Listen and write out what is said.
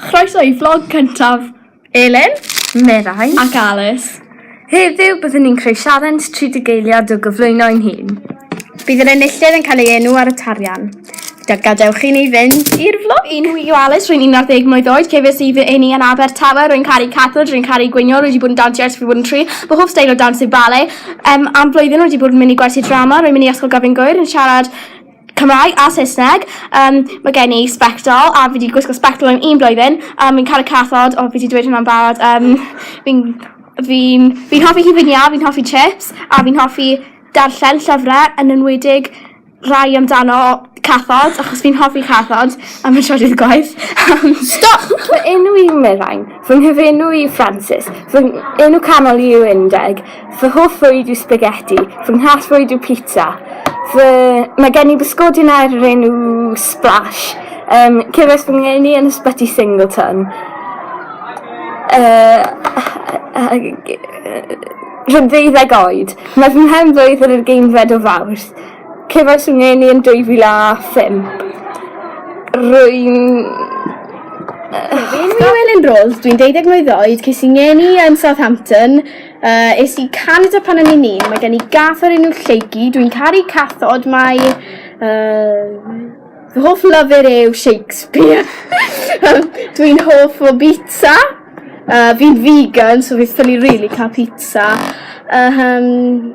Croeso i vlog cyntaf Elin, Merai ac Alice. Heddiw byddwn ni'n creu sialens 30 geiliad o gyflwyno ein hun. Bydd yr enillydd yn cael ei enw ar y tarian. Da, gadewch i ni fynd i'r vlog. Fy enw yw Alice, rwy'n 11 mlwydd oed, cefais i fy eni yn Abertawe, rwy'n caru cathlud, rwy'n caru gwnïo, rwy wedi bod yn dansio ers fi bod yn tri, fy hoff steil o dans yw bale. Um, am blwyddyn rwy wedi bod yn mynd i gwersi drama, rwy'n mynd i Ysgol Gavin Gwyr yn siarad Cymraeg a Saesneg. Um, mae gen i spectol a fi wedi gwisgo spectol yn un blwyddyn. Um, fi'n caru cathod, o fi wedi dweud hwnna'n barod. Um, fi'n fi, fi hoffi hifi'n iaf, fi'n hoffi chips a fi'n hoffi darllen llyfrau yn enwedig rai amdano cathod achos fi'n hoffi cathod am y trydydd gwaith. Stop! Fy enw i Merain. Fy nghyfenw i Francis. Fy enw canol i yw Undeg. Fy hoff fwyd yw spaghetti. Fy nghas fwyd yw pizza. Fy... Mae gen i bysgodyn ar yr enw Splash. Um, Cefais fy ngeni yn ysbyty Singleton. Uh, uh, uh, Rydw ddeuddeg oed. Mae fy mhen flwydd yn yr geinfed o fawrth. Cefais fy ngeni yn 2005. Rwy'n... Fi'n Llewelyn Rose, dwi'n 12 mlwydd oed, ces i ngeni yn Southampton, uh, es i Canada pan o'n i'n un, mae gen i gath o'r enw Lleucu, dwi'n caru cathod, mae... Uh, fy hoff lyfr yw Shakespeare, dwi'n hoff o bizza, uh, fi'n vegan, so fi'n ffili rili really cael pizza, uh, um,